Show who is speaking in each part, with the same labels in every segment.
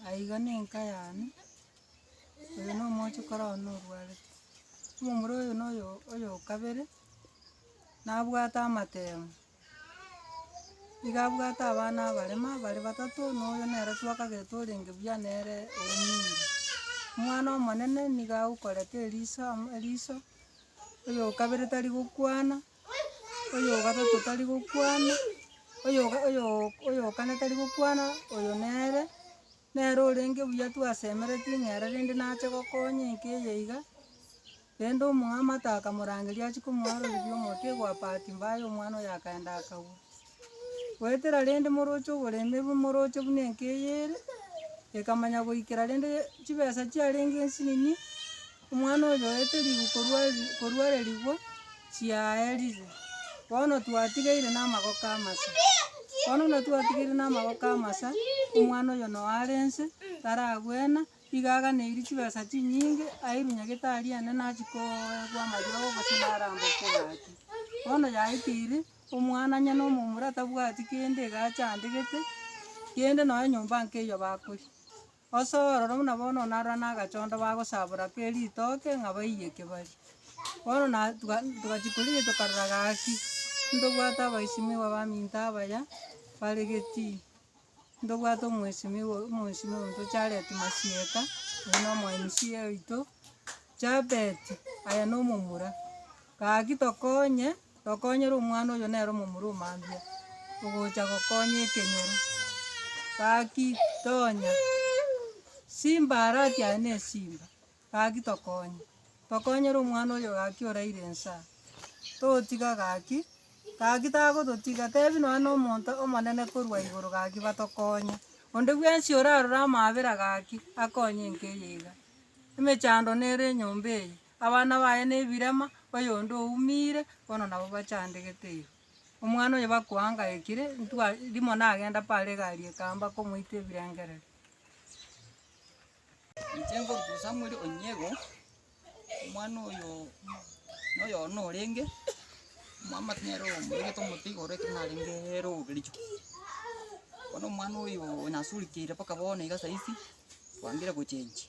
Speaker 1: Aiga nenka yane, oyo nomoche koro one orwarete. Omomura oyo noyo oyo okabere, nabwate amatemo. Nigo abwate abana abarema bare batato, na oyo nere twakagete orenge buya nere Emili. Omwana omonene nigo agokorete eriso amo eriso, oyo o kabere tari gokwana, oyo o gatato tari gokwana, oyo oyo oyo o kane tari gokwana, oyo nere. Nere orenge buya twasemereti ng'ere rende nache gokonya enka eye iga. Rende omong'amata akamorangeria achie komoaroreri omote egwa bahati mbaya omwana oye akaenda akagwa. Goetera rende moroche oboremi bu moroche buna enka eye ere, ekamanya goikera rende chibesa chiarenge esini. Omwana oyo oete ribu korwa korwa erigwa chiaerire, bono twatigeire namagoko amasa. Bono buna twatigeire namagoko amasa, omwana oyo noo are nse, taragwena, iga aganeirie chibesa chinyinge, airwe nyagetari ene nachia koegwa amariogo gose narambekwa gaki. Bono yaikire, omwana onye na omomura tabwati kende iga achandegete, kende nonye nyomba nka eyio bakoria. Gose ororo buna bono narora nagachondo bagosabora ke ritoke ng'a baiye kebari. Bono na tuga togachia korigia tokarora gaki, ntobwate abaisimigwa baminto abaya bare Getii, ntobwate omwesimigwa omoisimi oito Jared Masieka, oyo na omo MC oito, Jabet, aye na omomura. Gaki tokonye. Tokonyere omwana oyo nere omomura o mambia ogocha gokonya ekenyoro. Gaki tonya simba are ati aye ne simba. Gaki tokonye. Tokonyere omwana oyo gaki oraire ensa. Totiga gaki, gaki tagototiga tebi nonya no omonto omonene korwa igoro gaki batokonye. Onde bwensi orarora amaabera gaki akonye enka eye iga. Emechando nere enyomba eye. Abana baye nebirema, oyonde oumire, bono nabo bachandegete iga. Omwana oyo bakoangaekire, ntwa rimo nagenda paaro egari ekamba komoita ebirengereri.
Speaker 2: Inche ngoruta Samuel Onyego, omwana oyo noyo norenge, omwamate nere omoregete omote igoro ekero narenge robe kericho. Bono omwana oyo nasurikeire mpaka bono iga saizi, twangire gochenchia.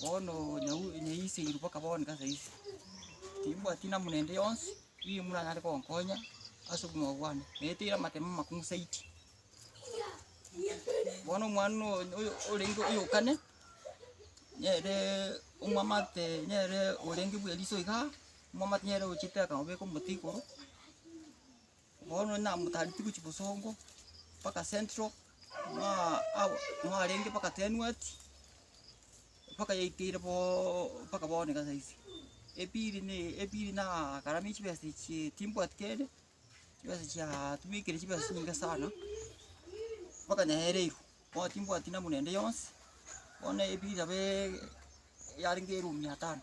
Speaker 2: Bono nyau- nyaiseirwe mpaka bono iga saisi, timbwati namuna ende yonsi eyio muranyare konkonya ase obogima bwane, naeteire amatemo amakong'u zaidi. Bono omwana no- oyo- oyo- orenge oyokane, nere omwamate nere orenge bweriso igaa, omwamate nere ogochiteka obeke omote igoro. Bono onye namotareti gochia Bosongo mpaka Central, mwaa abo- mwarenge mpaka Tenuati, mpaka yaikeire boo mpaka bono iga saisi. Epili na epili nagaramia chibesa echio timbwati kende, chibesa chiaaa tubekire chibesa chinyinge sana, mpaka nyaereirwe, bono timbwati namuna ende yonsi, bono epili nabo yarenge eruumi mia tano.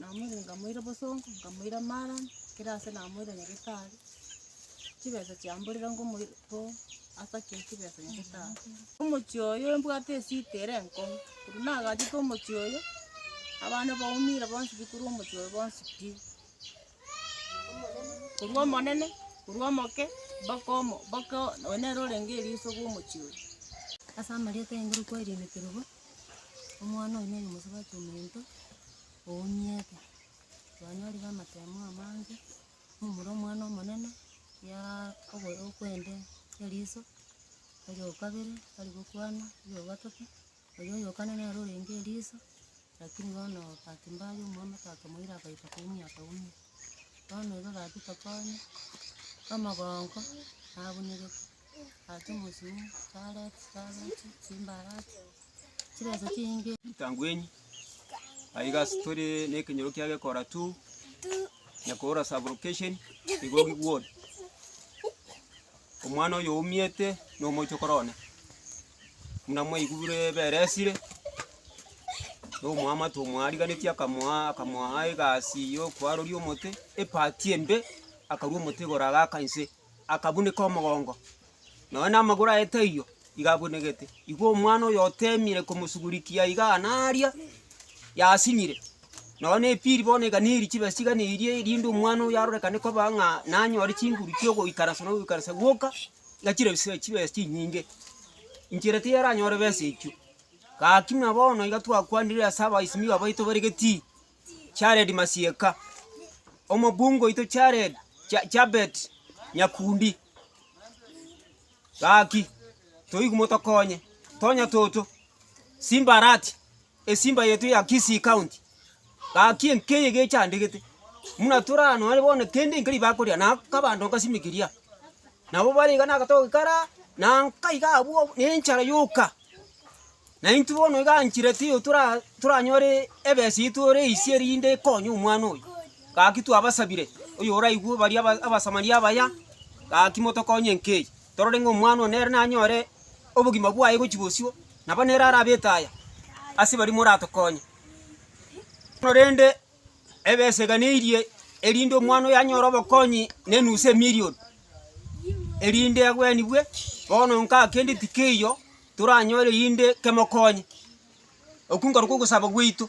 Speaker 1: namoire nkamoira bosongo, nkamoira mara, ekero ase namoire nyagetari, chibesa chiamborire nkomoir ko asake chibesa nyagetari. Omochie oyo mbwate esida ere enkong'u, oria nagachete omochie oyo, abana baumire bonsi pi korwa omochie oyo bonsi pi, korwa omonene, korwa omoke, mpaka omo- mpaka oyo nere orenge eriso bwa omochie oyo. Ase amarieta aye ngorokwa Elihu Kerubo. Omwana oyo noyo omosubati omonto, oonyiete, kwanyorire amatemo amange, momura omwana omonene, yaaa oboyo okwende eriso, oyo okabere tari gokwana, oyo ogatato, oyo oyo okane nere orenge eriso,
Speaker 3: lakini bono bahati mbaya omwamate akamoira akaita koumia akaumia. Bono iga gachete konya, omogongo, nabunyegete. Ritangwenyi,
Speaker 4: aiga ase tore nekenyoro kia gekora tu, Nyakora sub location Igogi ward. Omwana oyo oumete na omochie okora one. Muna mwaigure ebere esire, na omwamate omwariganeti akamoa akamoa egasi yo kwaroria omote, epati embe akarua omote igoro agaka inse. akabuneka omogongo, nonya namagoro aye taiyo iga abunegete. Igwa omwana oyo otemire komosugurikia igaa na aria, yasinyire. Nonya na epiri bono iga neri chibesa iga na eria erinde omwana oyo arorekane koba ng'a nanyore chinguru chiogoikaransa na ogoikaransa gwoka, iga chire chibesa chibesa chinyinge. Inchera tiyaranyore besa echio. Gaki buna bono iga twakwanire ase abaisimigo abaito bare Getii. Jared Masieka, omobunge oito Jared Ja- Jabet Nyakundi. Gaki, toigwe motokonye. Tonya toto. Simba arati. Esimba yetu ya Kisii County. Gaki enkeye gechandegete. Muna torano are bono kende nkeri bakoria na kabando nkasimikiria. Nabo bare iga nagatogi kara na nkaiga abwo nenchara yoka. Na intwe bono iga anchirete oyo tora- toranyore ebesa yaito ore ise erinde ekonye omwana oyo. Gaki twabasabire oyoraigwe baria aba- Abasamaria abaya, gaki motokonye enka eye, torore ng'a omwana oyo nere nanyore obogima bwaye gochia bosio, nabo nere arabete aya ase baria moratokonye. Korende. ebeseganeirie, erinde omwana oyo anyore obokonyi nenusu emilioni, erinde agwenigwe. Bono nkaa kende tikeiyo toranyore rinde kemokonye. Okwo nkorokwo ogosaba gwaito.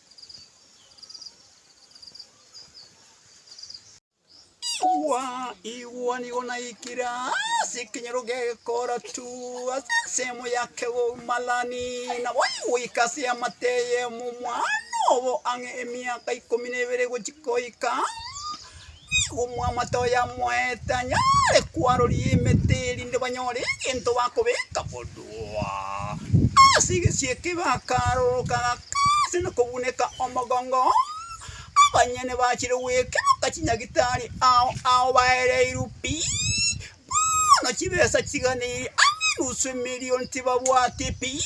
Speaker 5: Igwa, igwa nigo naikire ase ekenyoro gekoratu, ase ensemo ya kegomarani, nabo goika ase amate y'omwana obo ang'e emiaka ikomi na ebere gochia goika. Nigo omwamate oye amoete anyare kwaroria emete, erinde banyore egento bakobeka bodwa. Ase egesiika iga akaroroka agakaansa na kobuneka omogongo oo, abanyene bachire goekeroka chinyagitari ao ao baereirwe pi. Bono chibesa chiganeiri aa nusu emerion tibabwati pi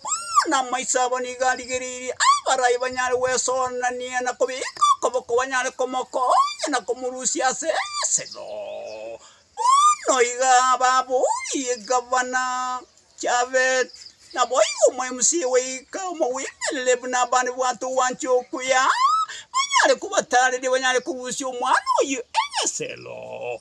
Speaker 5: Bono amaiso abo nigo arigereirie aa barai banyare gwesoorania na kobeka okoboko banyare komokoonia na komorusia ase esego Bono iga babooririe Gavana Japheth Naboigo omomc goika omogwenerere buna abande bwate ogwancha okuya Banyare kobataareria banyare korusia omwana oyio esego.